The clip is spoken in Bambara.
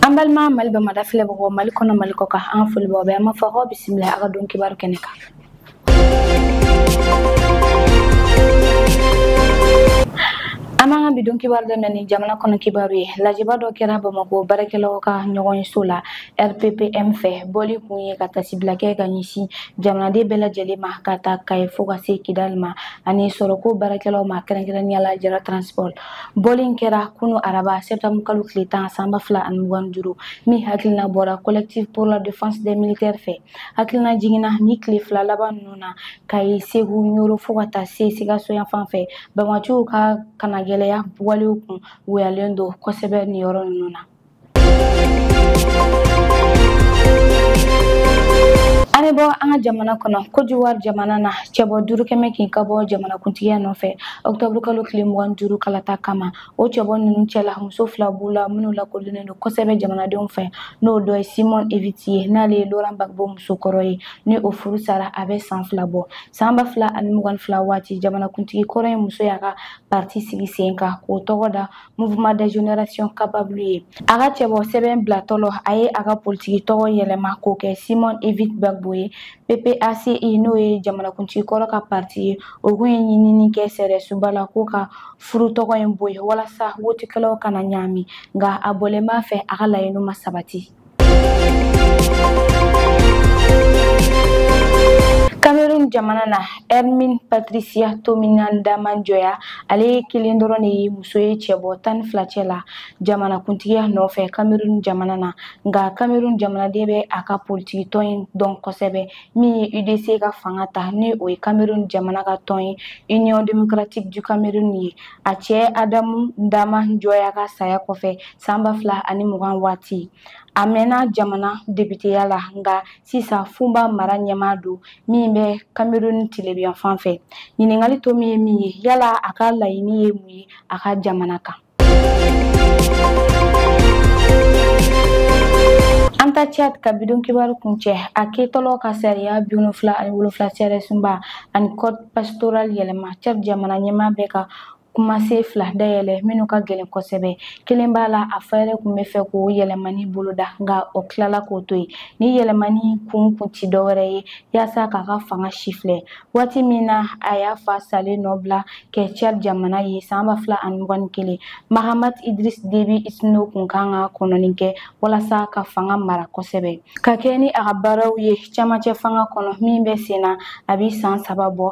an balima mali bamada filɛbagaw mali kɔnɔ mali kɔ kan an ka foli b'aw bɛɛ an b'a fɔ k'aw bisimila a ka don kibaru kɛnɛ kan an b'an ka bi don kibaru daminɛ ni jamana kɔnɔ kibaru ye lajɛba dɔ kɛra bamakɔ baarakɛlaw ka ɲɔgɔnso la rppm fɛ bɔli kun ye ka tasibila kɛ ka ɲɛsin jamanaden bɛɛ lajɛlen ma ka ta kaye fo ka se kidali ma ani sɔrɔko baarakɛlaw ma kɛrɛnkɛrɛnnenya la jara transport Bɔli in kɛra kunun araba septembre kalo tile tan san ba fila ani mugan duuru min hakilina bɔra collectif pour la défense des militaires fɛ hakilina jiginna nin tile fila laban ninnu na kaye segu yɔrɔ fo ka taa se sikaso yan fan fɛ banbaanciw ka kangɛlɛya walew kun wuyalen don kosɛbɛ nin yɔrɔ ninnu na An bɛ bɔ an ka jamana kɔnɔ côte d'ivoire jamana na cɛbɔ duuru kɛmɛ kan ka bɔ jamanakuntigiya nɔfɛ octobre kalo tile mugan duuru kalata kama o cɛbɔ ninnu cɛla muso fila b'u la minnu lakodɔnnen don kosɛbɛ jamanadenw fɛ n'o dɔ ye simone ehivet ye n'ale ye laurent gbagbo muso kɔrɔ ye ni o furu sara a bɛ san fila bɔ san ba fila ani mugan fila waati jamanakuntigi kɔrɔ in muso y'a ka parti sigi sen kan k'o tɔgɔ da Mouvement des générations capables ye a ka cɛbɔ sɛbɛn bilatɔla a ye a ka politiki tɔgɔ yɛlɛma k'o kɛ simone ehivet gbagbo ye ppaci, n'o ye jamanakuntigi kɔrɔ ka parti ye o kun ye ɲinini kɛ sariyasoba la k'o ka furu tɔgɔ in bɔ yen walasa wotikɛlaw kana ɲaami nka a bɔlen b'a fɛ a ka laɲini ma sabati Cameroun jamana na Hermine Patricia Tomaïno Ndam Njoya ale ye kelen dɔrɔn de ye muso ye cɛbɔ tan ni fila cɛ la jamanakuntigiya nɔfɛ Cameroun jamana na nka Cameroun jamanaden bɛ a ka politiki tɔn in dɔn kosɛbɛ min ye UDC ka fanga ta ni o ye Cameroun jamana ka tɔn ye Union démocratique du Cameroun ye a cɛ Adamou Ndam Njoya ka saya kɔfɛ san ba fila ani mugan waati a mɛnna jamana depiteya la nka sisan foumban mara ɲɛmaa don min bɛ cameroun tilebin yan fan fɛ ɲininkali to min ye min ye yala a ka laɲini ye mun ye a ka jamana kan an taa tchad ka bi don kibaru kuncɛ a kɛtɔla ka sariya bi wolonfila ani wolonfila sariyasunba ani code pastoral yɛlɛma tchad jamana ɲɛmaa bɛ ka kumasen fila dayɛlɛ minnu ka gɛlɛn kosɛbɛ kelen b'a la a fa yɛrɛ kun b'a fɛ k'o yɛlɛmani boloda nka o tilala k'o to yen ni yɛlɛmani kun kun ti dɔwɛrɛ ye yaasa k'a ka fanga sifilɛ waati min na a y'a fa salen nɔ bila kɛ tchad jamana ye san ba fila ani mugan ni kelen mahamat idriss déby itno kun kan ka kɔnɔni kɛ walasa ka fanga mara kosɛbɛ ka kɛ ni a ka baaraw ye cɛmancɛ fanga kɔnɔ min bɛ sen na a bɛ san saba bɔ